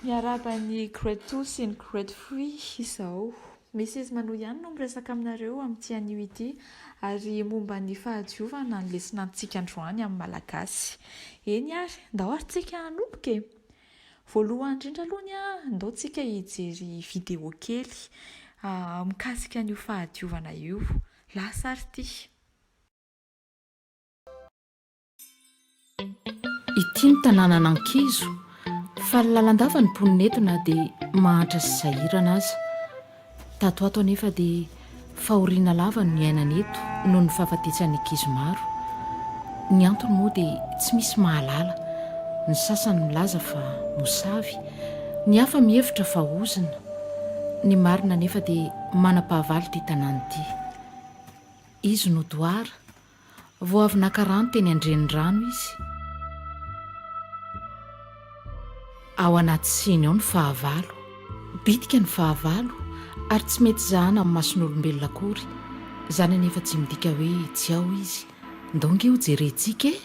Miarahaba an'i Great Two sy ny Great Three izao. Misy izy manoa ihany no miresaka aminareo amin'ity anio ity ary momba ny fahadiovana ny lesona antsika androany amin'ny Malagasy. Eny ary, ndao ary tsika hanomboka e! Voalohany indrindra aloha ny ahy, ndao tsika hijery video kely mikasika an'io fahadiovana io. Lasa ary ity. Ity ny tanànan'ankizo, faly lalandava ny mponina eto na dia mahantra sy sahirana aza. Tato ato anefa dia fahoriana lava no niainana eto noho ny fahafatesan'ny ankizy maro. Ny antony moa dia tsy misy mahalala, ny sasany milaza fa mosavy, ny hafa mihevitra fa ozona. Ny marina anefa dia manam-pahavalo ity tanàna ity. Izy no doara. Vao avy naka rano teny an-drenirano izy. Ao anaty siny ao ny fahavalo. Bitika ny fahavalo ary tsy mety zahana amin'ny mason'olombelona akory. Izany anefa tsy midika hoe tsy ao izy. Ndao nge ho jerentsika e!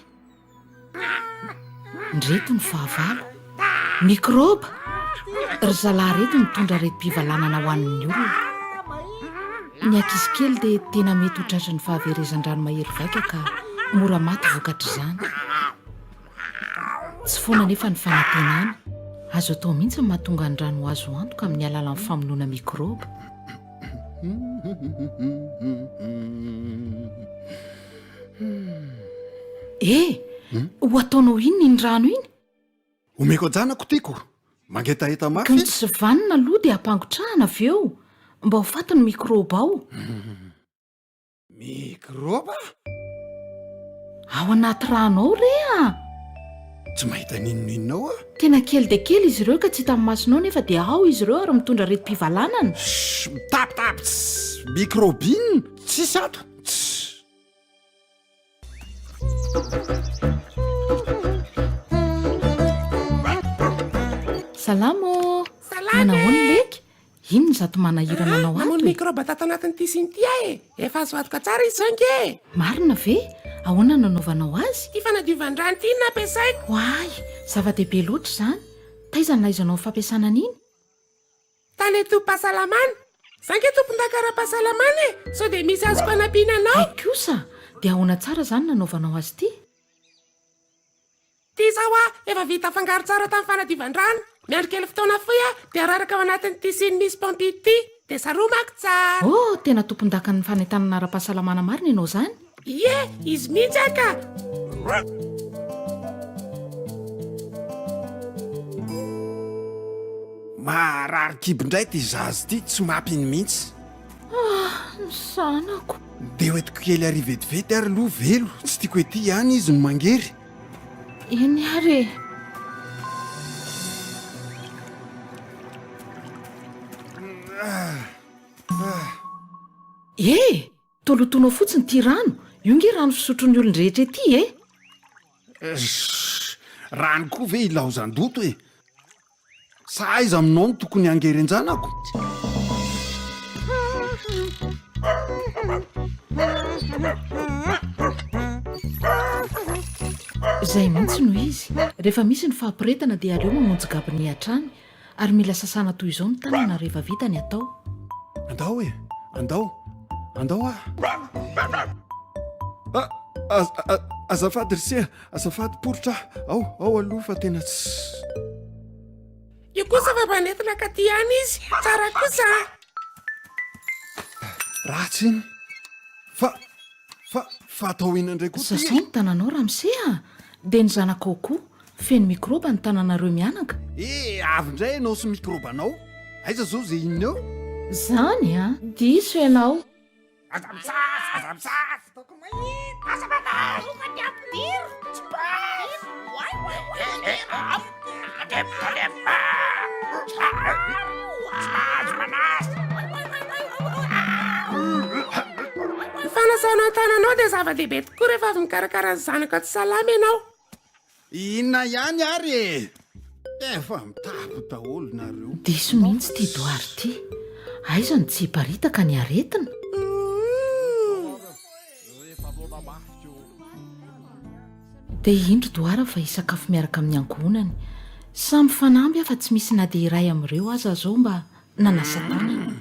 Ndreto ny fahavalo, mikrôba! Ry zalahy reto mitondra aretim-pivalanana ho an'ny olona. Ny ankizy kely dia tena mety ho tratran'ny fahaverezan-drano mahery vaika ka mora maty vokatr'izany. Tsy foana anefa ny fanantenana. Azo atao mihitsy ny mahatonga ny rano ho azo antoka amin'ny alalan'ny famonoana mikrôba. E! Ho ataonao inona iny rano iny? Omeko an-janako tiako. Mangetaheta mafy. Kanjo tsy vanona aloha dia ampangotrahana avy eo mba ho faty ny mikrôba ao. Mikrôba? Ao anaty rano ao re a! Tsy mahita n'inona inona ao aho. Tena kely dia kely izy ireo ka tsy hitan'ny masonao nefa dia ao izy ireo ary mitondra aretim-pivalanana. Shh! Mitapitapy! Mikrôba inona? Tsisy ato. Salama ô! Salama e! Inona izato manahirana anao ato e? Mamono mikraoba tato anatin'ity siny ity aho e! Efa azo vadoka tsara izy izao ange e! Marina ve? Ahoana no anaovanao azy? Ity fanadiovan-drano ity no nampiasaiko. Oay! Zava-dehibe loatra izany! Taiza no nahaizanao ny fampiasana an'iny? Tale tobim-pahasalamana. Za ange tompondaka ara-pahasalamana e! Sao dia misy azoko anampiana anao? Hay kosa! Dia ahoana tsara izany no nanaovanao azy ity? Ity izao an, efa vita afangaro tsara tamin'ny fanadivan-drano. Miandry kely fotoana fohy aho dia araraka ao anatin'ny tissu-ny misy paompy ity. Dia saromako tsara. Oh! Tena tompondakan'ny fanentanana ara-pahasalamana marina ianao izany. Ie, izy mihitsy aho ka! Maharary kibo indray ity zaza ity, tsy mampino mihitsy. Ah, ny zanako. Ndeha hoentiko kely ary vetivety ary aloha velo, tsy tiako ety ihany izy no mangery. Eny ary e. Ah, ah. Eh! Tolotono ao fotsiny ity rano, io nge rano fisotron'ny olon-drehetra ety e! Sh! Rano koa ve ilaozan-doto e! Sa aiza aminao no tokony hangerenjanako? Izay mihitsy no izy, rehefa misy ny fahaporetana dia aleo mimonjy gabone hatrany Ary mila sasana toy izao ny tanana rehefa vita ny atao. Andao e! Andao! Andao ah! Azafady ry se, azafady poritra ah! Ao, ao aloha fa tena tsy. Io kosa fa manefina ka ty ihany izy, tsara kosa ah! Ratsy iny! Fa, fa, fa atao inona indray koa ty e? Sasay ny tananao ramose ah! Dia ny zanakao koa, Feno mikrôba ny tananareo mianaka. Eh avy ndray ianao sy mikrôbanao. Aiza zao ze inona eo? Zany an! Diso ianao. Aza misasa! Aza misasa! Ataoko mahita! Aza manasa! Tonga ny ampidiro! Tsy basy! Oay oay oay! Eh eh avy! Tandremo tandremo! Tsy mahazo manasa! Ny fanasana ny tananao dia zava-dehibe tokoa rehefa avy mikarakara ny zanaka tsy salama ianao. Inona ihany ary e! Efa mitapy daholo nareo. Diso mihitsy ity doary ity. Aiza no tsy hiparitaka ny aretina? Dia indro doara fa hisakafo miaraka amin'ny ankohonany. Samy fanamby afa tsy misy na dia iray amin'ireo aza zao mba nanasa-tanana.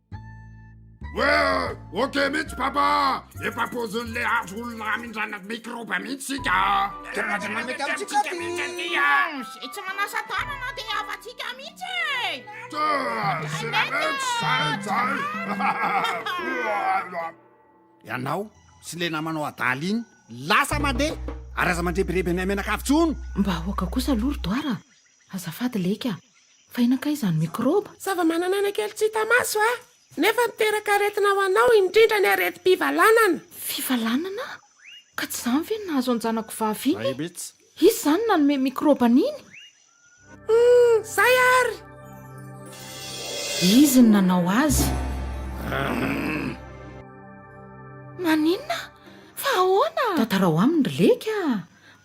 Ok mihitsy papa efa pozin'le azo olona amindrana mikroba mihitsy sika Karazana mety amintsika mihitsy aty a Zay tsy manasa tanana de havantsika mihitsy e Tsa, sirametsy, zay, zay Ianao sy le namanao adala iny lasa mandeha Ary aza mandrebireby anay mianakavy tsony Mba ahoaka kosa aloha ry Doara a! Azafady Leka a! Fa inona kay izany mikrôba? Zava-manan'aina kely tsy hita maso a! Nefa miteraka aretina ho anao, indrindra ny aretim-pivalanana. Fivalanana? Ka tsy izany ve no nahazo an-janako vavy iny e? Izy izany nanome mikrôba an'iny? Humm! Izay àry! Izy no nanao azy. Humm! Maninona? Fa ahoana? Tantarao aminy ry Leka a!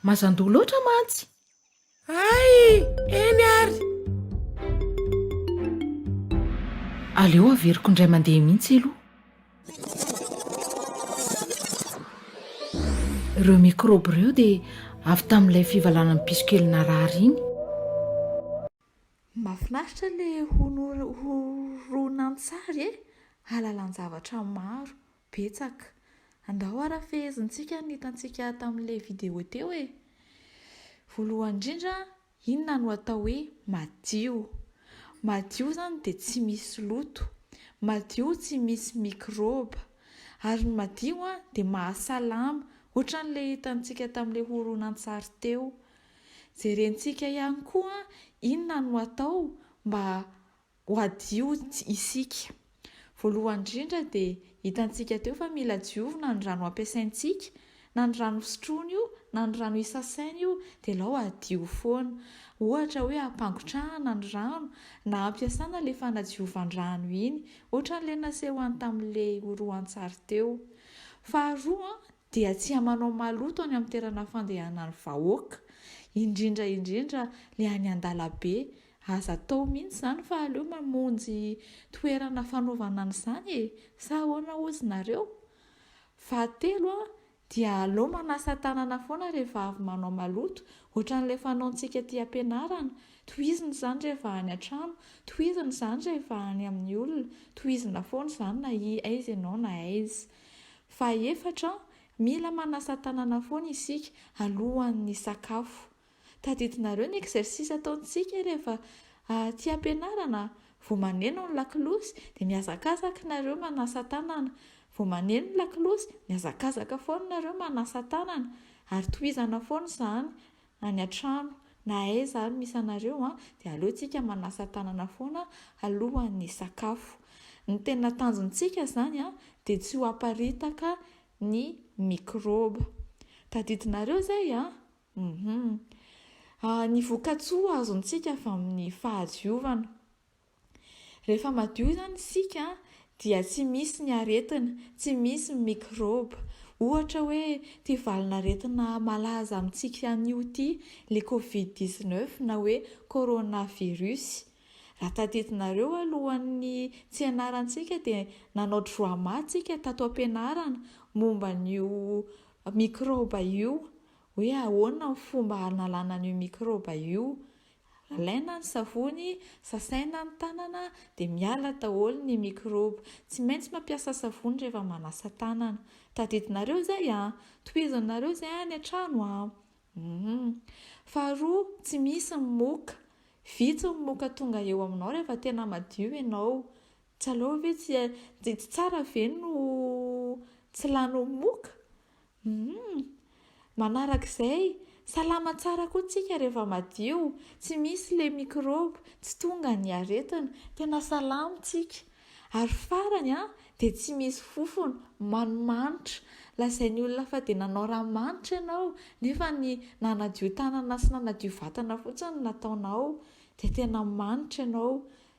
Mazan-doha loatra mantsy! Hay! Eny ary! Aleo averiko indray mandeha mihitsy aloha. Ireo mikrôby ireo dia avy tamin'ilay fivalanan'ny piso kely narary iny. Mahafinaritra ilay horonantsary e! Halalan-javatra maro, Betsaka. Andao ara fehezintsika ny hitantsika tamin'ilay video teo e! Voalohany indrindra, inona no atao hoe madio? Madio izany dia tsy misy loto, madio tsy misy mikrôba, ary ny madio dia mahasalama, ohatran'ilay hitantsika tamin'ilay horonantsary teo. Jerentsika ihany koa inona no atao mba Ho hadio isika. Voalohany indrindra dia hitantsika teo fa mila diovina ny rano ampiasaintsika, na ny rano fisotroana io na ny rano isasaina io dia alao hadio foana. Ohatra hoe hampangotrahana ny rano na hampiasana ilay fanadiovan-drano iny, ohatran'ilay naseho any tamin'ilay horoantsary teo. Faharoa dia tsy hamanao maloto any amin'ny toerana fandehanan'ny vahoaka, indrindra indrindra ilay any an-dalabe Aza atao mihitsy izany fa aleo mamonjy toerana fanaovana an'izany e! sa ahoana hozy nareo? Fahatelo dia aleo manasa tanana foana rehefa avy manao maloto, ohatran'ilay fanaontsika aty am-pianarana, tohizina izany rehefa any an-trano, tohizina izany rehefa any amin'ny olona, tohizina foana izany na aiza ianao na aiza. Fahaefatra, mila manasa tanana foana isika alohan'ny hisakafo. Tadidinareo ny exercice ataontsika rehefa aty ampianarana vao maneno ny lakolosy dia mihazakazaka nareo manasa tanana, vao maneno ny lakolosy mihazakazaka foana nareo manasa tanana ary tohizana foana izany any an-trano na aiza ary misy anareo an, dia aleo tsika manasa tanana foana alohan'ny hisakafo. Ny tena tanjontsika izany an dia tsy ho aparitaka ny microbe. Tadidinareo izay an? Humm. Ah ny vokatsoa azontsika avy amin'ny fahadiovana. Rehefa madio izany isika dia tsy misy ny aretina, tsy misy ny mikrôba. Ohatra hoe ity valin'aretina malaza amintsika anio ity, le covid 19 na hoe corona virus. Raha tadidinareo alohan'ny tsy hianarantsika dia nanao drôama tsika tato am-pianarana momba an'io mikrôba io. hoe ahoana ny fomba hanalana an'io mikraoba io, alaina ny savony, sasaina ny tanana dia miala daholo ny mikraoba, tsy maintsy mampiasa savony rehefa manasa tanana, tadidinareo izay a! tohizinareo izay any an-trano a! humm. Faharoa, tsy misy ny moka, vitsy ny moka tonga eo aminao rehefa tena madio ianao, tsy aleo ve tsy, tsy tsara ve no tsy lany moka? Humm! Manaraka izay, salama tsara koa tsika rehefa madio, tsy misy le microbe, tsy tonga ny aretina, tena salama tsika. Ary farany an, dia tsy misy fofona, manimanitra. Lazain'ny olona fa dia nanao ranomanitra ianao, nefa ny nanadio tanana sy nanadio vatana fotsiny no nataonao, dia tena manitra ianao.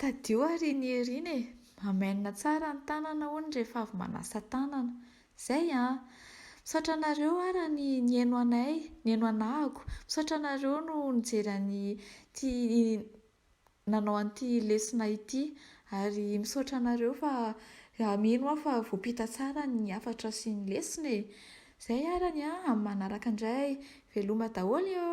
Tadio ary ny herina e! Mamène tsara ny tanana hono rehefa avy manasa tanana. Zay an! Misaotra anareo ara ny nihaino anay, nihaino anahako. Misaotra anareo no nijery an'ity nanao an'ity lesona ity. Ary misaotra anareo fa mino aho fa voampita tsara ny hafatra sy ny lesona e! Zay ara ny an! Amin'ny manaraka indray. Veloma daholo eo!